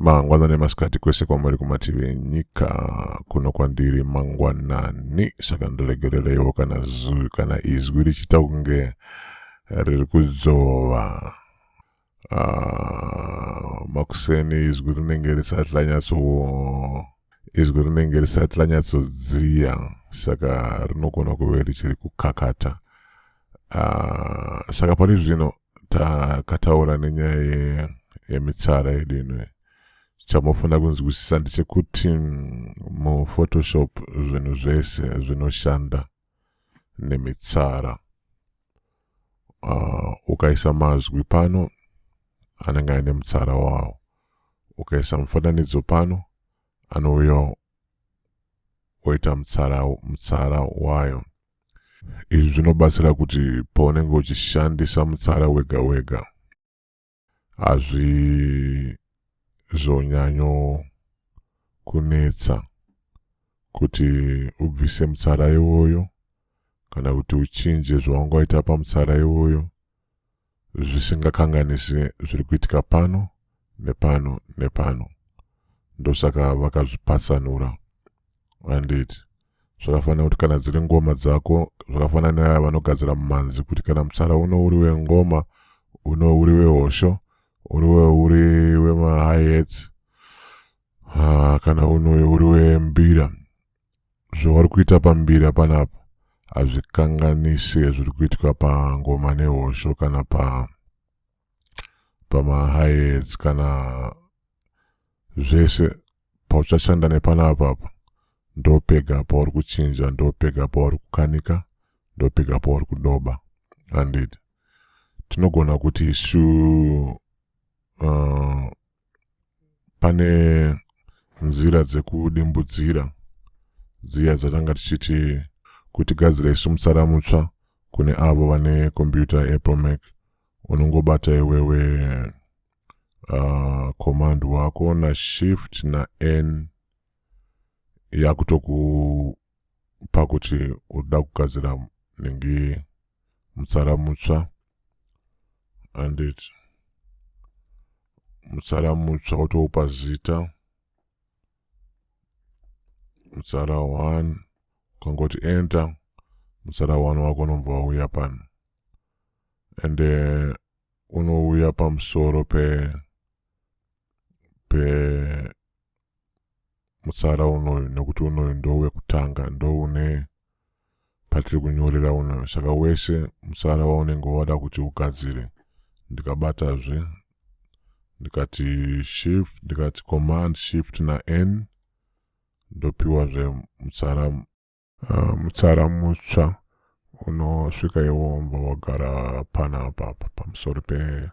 mangwanani masikati kwese kwamuri kumativi enyika kuno kwandiri mangwanani saka ndiregerereiwo kana zui kana izwi richita kunge riri kudzova Ah, makuseni izwi rinenge risati ranyatso izwi rinenge risati ranyatsodziya saka rinogona kuve richiri kukakata ah, saka pari zvino takataura nenyaya yemitsara yedu ino chamofanira kunzwisisa ndechekuti muphotoshop zvinhu zvese zvinoshanda nemitsara uh, ukaisa mazwi pano anenge aine mutsara wawo ukaisa mufananidzo pano anouya oita mutsara, mutsara wayo izvi zvinobatsira kuti paunenge uchishandisa mutsara wega wega hazvizonyanyo kunetsa kuti ubvise mutsara iwoyo kana kuti uchinje zvawanga waita pamutsara iwoyo zvisingakanganisi zviri kuitika pano nepano nepano ndosaka vakazvipatsanura handiti zvakafanira kuti kana dziri ngoma dzako zvakafanira nevaya vanogadzira mumanzi kuti kana mutsara uno uri wengoma uno uri wehosho uri uri wemahayets ah, kana uno uri wembira zvauri kuita pambira panapa hazvikanganise zviri kuitwa pangoma nehosho kana pa pamahayets kana zvese pauchashanda nepana apapa ndopega pauri kuchinja ndopega pauri kukanika ndopega pauri kudoba andid tinogona kuti isu uh, pane nzira dzekudimbudzira dziya dzatanga tichiti kuti gadzira isu musara mutsva kune avo vane computer apple mac unongobata iwewe uh, command wako na shift na n yakutokupa kuti uda kugadzira nenge mutsara mutsva and it mutsara mutsva wotoupa zita mutsara 1 ukangoti enter mutsara 1 wako unombova uya pano and uh, unouya pamusoro pe pe mutsara unoyu nekuti unoyu ndowekutanga ndoune patiri kunyorera unoyu saka wese mutsara waunenge wada kuti ugadzire ndikabatazve ndikati shift ndikati command shift na n ndopiwazve mutsara uh, mutsara mutsva unosvika iwo umva wagara pana apapa pamusoro pe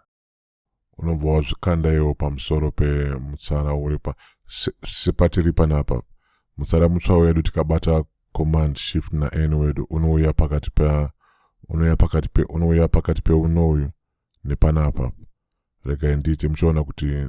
unobva wazvikanda iwo pamusoro pemutsara uri pa sepatiri panapa mutsara mutsva wedu tikabata command shift na n wedu unouya pakati pa unouya pakati pe unouya pakati peuno uyu nepanapa regai ndiite muchiona kuti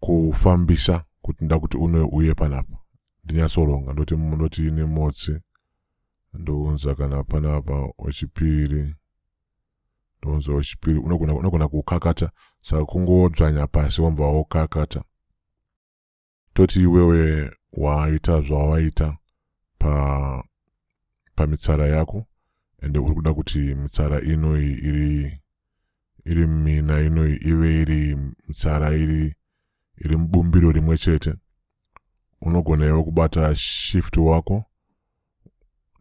kufambisa kuti ndakuti une uye panapa ndinyatsoronga ndoti ndoti nemotsi ndounza kana panapa wechipiri ndounza wechipiri unogona kukakata saka kungodzvanya pasi wamba wokakata toti iwewe waita zvawaita pa pamitsara yako ende uri kuda kuti mitsara inoyi iri iri mina ino ive iri mitsara iri iri mubumbiro rimwe chete unogona iwe kubata shift wako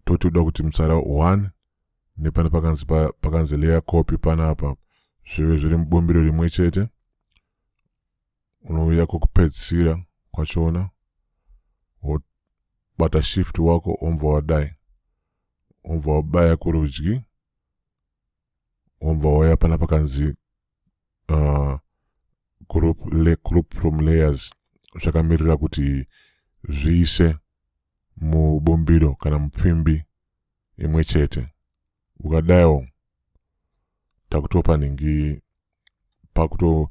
toti uda kuti mutsara one nepane pakanzi pakanzi layer copy panapa zvive zviri mubumbiro rimwe chete unouya kwokupedzisira kwachona wobata shift wako ombva wadai ombva wabaya kurudyi wobva wauya pana pakanzi uh, group, le, group from layers zvakamirira kuti zviise mubumbiro kana mupfimbi imwe chete ukadaiwo takutopa ningi pakuto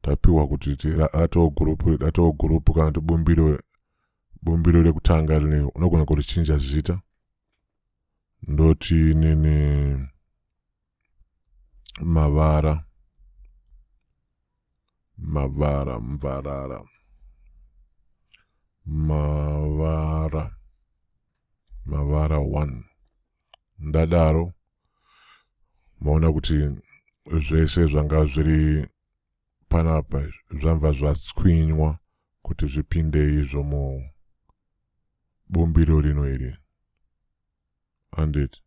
tapiwa kuti atoo gurupu atoo gurupu kana kuti bumbiro bumbiro rekutanga rine unogona kurichinja zita ndoti nene mavara mavara mvarara mavara mavara one ndadaro maona kuti zvese zvanga zviri panapa zvamva zvatswinywa kuti zvipinde izvo mu bumbiro rino iri handiti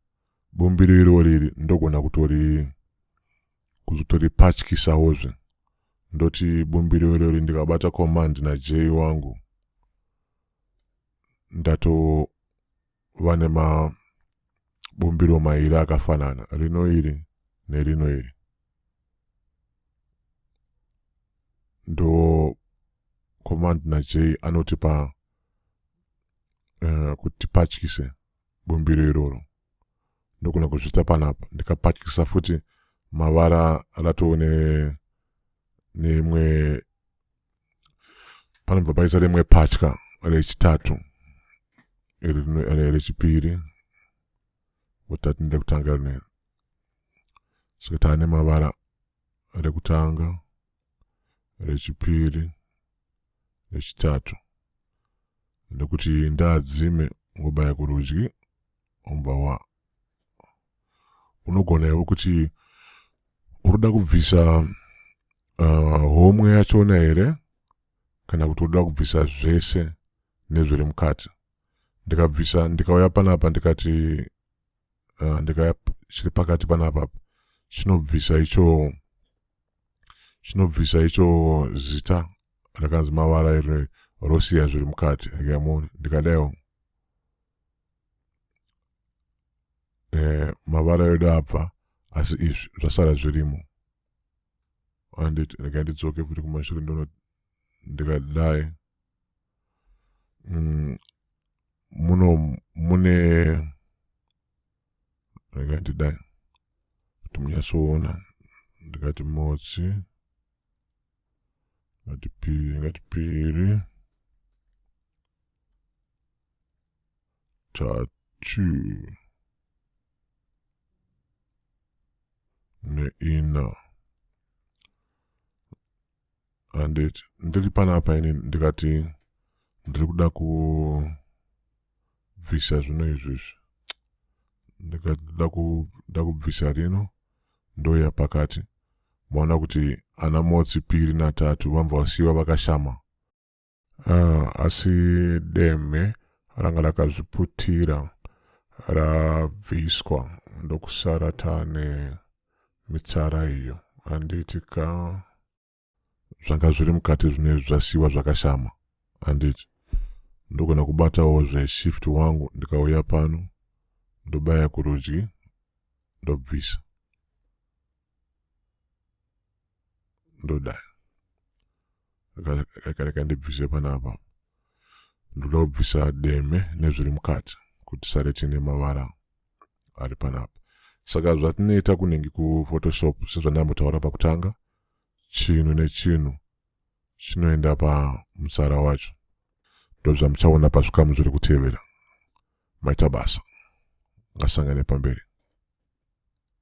bumbiro irori iri ndogona kutori kuzotori patyisawozve ndoti bumbiro irori ndikabata command najei wangu ndatova nemabumbiro mairi akafanana rino iri nerino iri ndo command najei anotipa uh, kuti patyise bumbiro iroro ndogona kuzvita panapa ndikapatyisa futi mavara ratoo neimwe ne panobva paisa rimwe patya rechitatu rechipiri votati ndekutanga rine saka taane mavara rekutanga rechipiri rechitatu nekuti ndaadzime ngobaya kurudyi omba wa unogona iwe kuti uruda kubvisa uh, homwe yachona here kana kuti uruda kubvisa zvese nezviri mukati ndikabvisa ndikauya panapa ndikati uh, ndikaya chiri pakati panapa chinobvisa icho chinobvisa icho zita rakanzi mavara iri rosiya zviri mukati akamona ndikadaiwo eh, mavara edu abva asi izvi zvasara zvirimo anditi regai ndidzoke futi kumashure ndono ndikadai mm, muno mune rega ndidai kuti munyatsoona ndikati motsi ngati piri ngati piri tatu neina handiti ndiri panapa ini ndikati ndiri kuda kubvisa zvino izvi izvi ndikati nda kubvisa rino ndoya pakati maona kuti ana motsi piri natatu vambva vasiyiwa vakashama Uh, asi deme ranga rakazviputira rabviswa ndokusara tane mitsara iyo handiti ka zvanga zviri mukati zvine zvasiyiwa zvakashama handiti ndogona kubatawo zveshift wangu ndikauya pano ndobaya kurudyi ndobvisa ndoda akareka ndibvise panapa ndoda kubvisa deme nezviri mukati kuti sare tine mavara ari panapa saka zvatinoita kunenge kuphotoshop sezvandambotaura pakutanga chinhu nechinhu chinoenda pamutsara wacho ndozvamuchaona pazvikamu zviri kutevera maita basa ngasangane pamberi